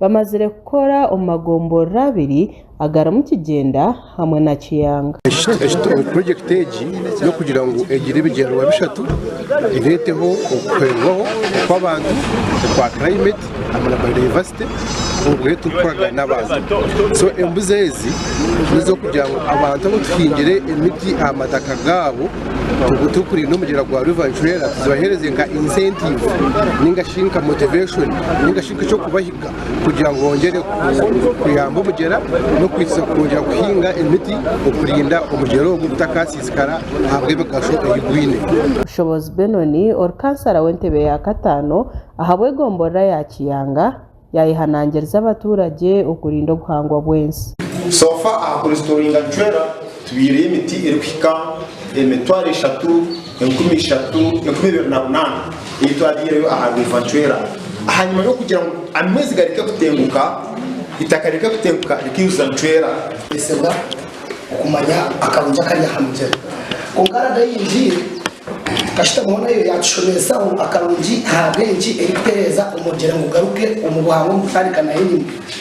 Bamazire kukora omu magomborero abiri agarimu Kigyenda hamwe na Kiyanga. Purojekiti egi n'okugira ngu egire ebigyendererwa bishatu, ereeteho okuhwezibwaho kw'abantu okwa climate hamwe na biodiversity obu reero turikukoragana n'abantu. So embuzi ezi n'ez'okugira ngu abantu abu tuhingire emiti aha mataka gaabo obu turikurinda omugyera gwa River Nchwera tuzibaheereze nka incentive nainga shi nka motivation nainga shi. eky'okubahiga kugira ngu bongyere kuyamba omugyera n'okwija kuhinga emiti okurinda omugyera ogu gutakasiisikara ahabw'emigasho ei gwine. Bushobozi Benon ori kansara w'entebe ya kataano ahabw'egomborora ya Kiyanga yayehanangiriza abaturagye okurinda obuhangwa bw'ensi. So far aha kuresitoringa Chwera tubyiireyo emiti erikuhika emitwaro eshatu. Enkumi ishatu, enkumi ibiri na munaana ei twabyireyo aha biiva ncwera. Ahanyima y'okugira ngu amaizi gareke kutenguka, itaka rireke kutenguka rikaijuza ncwera. Nituteesebwa okumanya akarungi akari aha mugyera. Kwonka Rada ei ngiire kasita boona yo yaatushomeesaho akarungi aha rw'enki erikutereeza omugyera ngu gugaruke omu buhangwa omu kutandika n'ahenyima.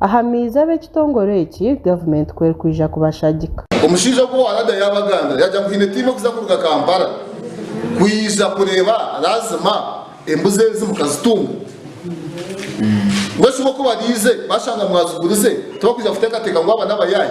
Aha maizi ab'ekitongore eki gavumenti ku erikwija kubashagika. Omushaija ogu warada yaaba agambire yaagira ngu haine tiimu erikuza kuruga Kampala kwija kureeba Razma embuzi ezi mukazitunga. Mbwenu shi bo ku bariize bashanga mwazigurize tibakwija kuteekateeka ngu aba n'abayaayi?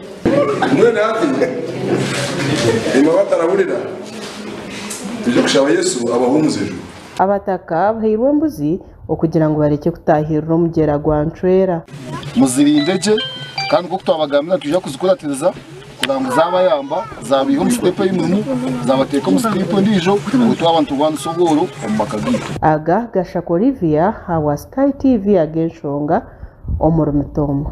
Mbwenu hati, imwe abatarahurira, twije kushaba Yesu abahe omuzijo. Abataka bahairwe embuzi okugira ngu barekye kutaahirira omugyera gwa Ncwera. Muzirinde gye kandi nk'oku twabagambire nitwija kuzikuratiriza kugira ngu zaabayamba zaabaiha omu siteepu einimu zaabateeka omu siteepu endiijo ngu itwe abantu bwanisa obworo omu maka gaitu. Aga Gashaka Olivia awa Sky TV ag'enshonga omuri mutoma.